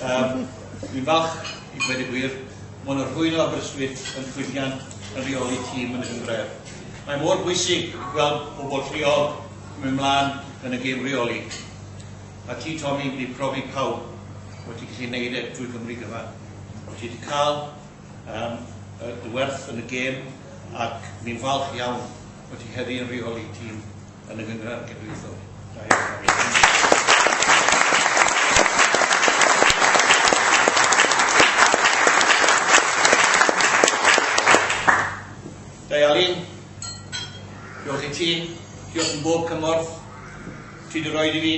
Yym, dwi'n falch i ddweud y gwir, maen nhw'n rhwydd o Aberystwyth yn llwyddiant yn rheoli tîm yn y gynghrair. Mae mor bwysig gweld pobl lleol yn mynd mlaen yn y gêm reoli. A ti, Tommy, wedi profi pawb bod ti'n gallu neud e drwy Gymru gyfan. Bod ti wedi cael um, y werth yn y gêm ac ni'n falch iawn fod ti heddi yn rheoli tîm yn y Gynghrair Genedlaethol. Da iawn, Dafydd. Alun, diolch i ti, diolch yn bob cymorth ti wedi rhoi i fi.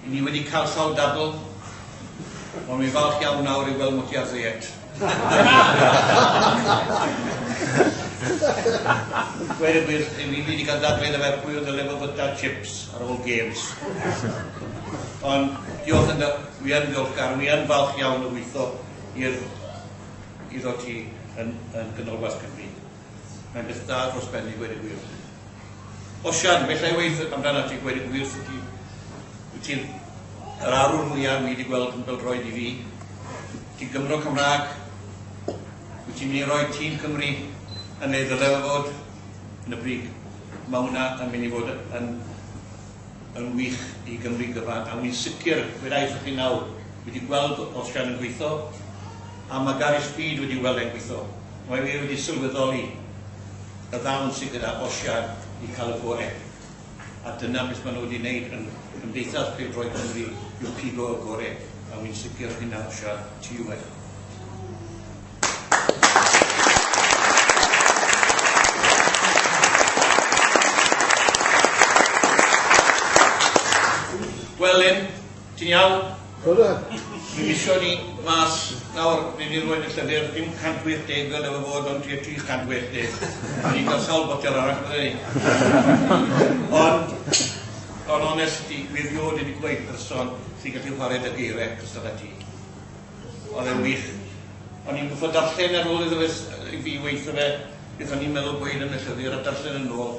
Ry ni wedi cael sawl dadl, ond wi'n falch iawn nawr i weld Mutia Zayed. Gweud y gwir, ry ni wedi cael dadl iddo fe pwy oedd y level byta chips ar ôl games. Ond diolch yn fawr, wi yn ddiolchgar, wi yn falch iawn o weithio i'r, iddo ti yn, yn Ganolbarth Cymru. Mae'n beth da dros ben i gweud y gwir. Osian, well I weithio amdanat ti gweud y gwir Siti. Wyt ti'n yr arwr mwya wi di gweld yn bel-droed i fi. Ti'n Gymro Cymraeg. Wyt ti'n mynd i roi tîm Cymru yn ei ddyleu fod yn y brig. Mae hwnna yn mynd i fod yn yn wych i Gymru gyfan a wi'n sicr gweda i chi nawr wi di gweld Osian yn gweithio a mae Gary Speed wedi weld e'n gweithio. Mae fi wedi sylweddoli y ddawn sydd gyda Osian i cael y gorau, a dyna beth maen nhw wedi wneud yn Cymdeithas Pêl-droed Cymru yw pigo y gorau, a wi'n sicr o hynna Osian, ti yw e. Gwelwn Ti'n iawn? Coda. Mi misio ni mas nawr, ni di roed y llyfr, dim 180 fel efo fod ond tua 380. Ni di cael sawl botel arall bydde ni. Ond, on onest i, fi rioed wedi gweud person sy'n gallu chwarae dy geirau cystal â ti. Oedd e'n wych. O'n i'n gwybod darllen ar ôl iddo fe, i fi weithio fe, beth o'n i'n meddwl gweud yn y llyfr a darllen yn ôl.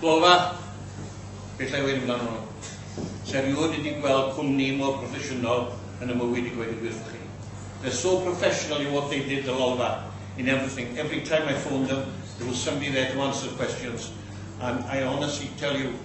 Glofa, beth â'i wneud amdano nhw? Sa i rioed wedi gweld cwmni mor broffesiynol yn y mywyd i gweud y gwir 'tho chi. They're so professional in what they did the Lolfa, in everything, every time I phoned them there was somebody there to answer questions and I honestly tell you,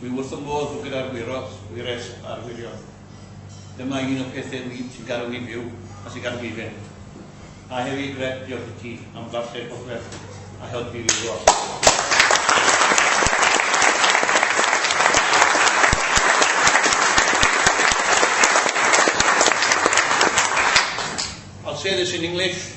Wi wrth fy modd fod gyda'r Wyros, Wyres a'r Wyrion. Dyma un o pethe wi sy'n gadw fi'n fyw a sy'n gadw fi fynd. A hefyd Greg, diolch i ti am ddarllen popeth a helpu fi lot. I'll say this in English.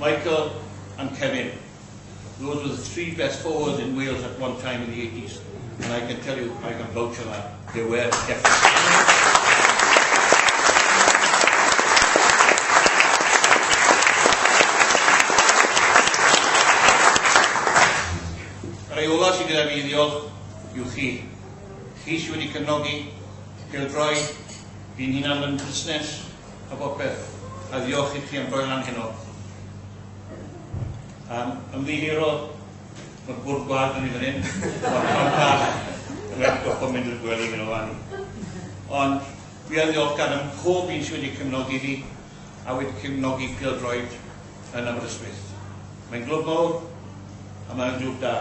Michael and Kevin, those were the three best forwards in Wales at one time in the eighties and I can tell you, I can vouch for that, they were definitely. Rhai ola sydd gyda fi i ddiolch yw chi. Chi sydd wedi cefnogi, pildroi, fi'n hunan yn busnes, a bopeth, a ddiolch i chi am roi lan heno. Um, ymddihiro, mae'r bwrdd gwlad yn ei fan hyn, o'r cantar, rhaid goffa mynd i'r gwely hyn o fan. Ond fi yn ddiolchgar am pob un sydd wedi cymnogi fi, a wedi cymnogi Pildroed yn Aberystwyth. Mae'n glwb mawr, a mae'n glwb da.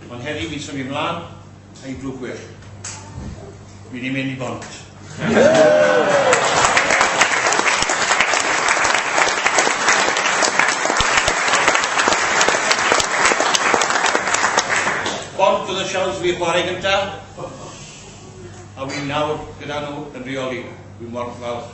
Ond heddi fi'n symud ymlaen, Ei drwg well. Fi di mynd i bont. Bont oedd y siawns fi chwarae gynta, a wi nawr gyda nhw yn rheoli, wi mor falch.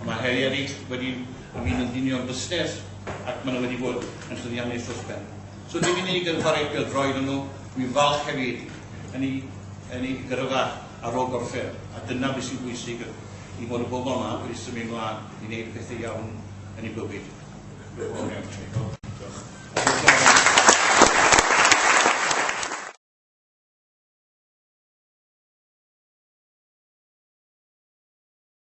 Ond mae heriau eraill wedi ymwneud yn union busnes ac maen nhw wedi bod yn llwyddiannus dros ben. So dim unig yn chwarae pêl-droed o'n nhw, dwi'n falch hefyd yn ei, yn ei gyrfa ar ôl gorffen, a dyna beth sy'n bwysig i fod y bobl yma wedi symud mlaen i wneud pethau iawn yn ei bywyd.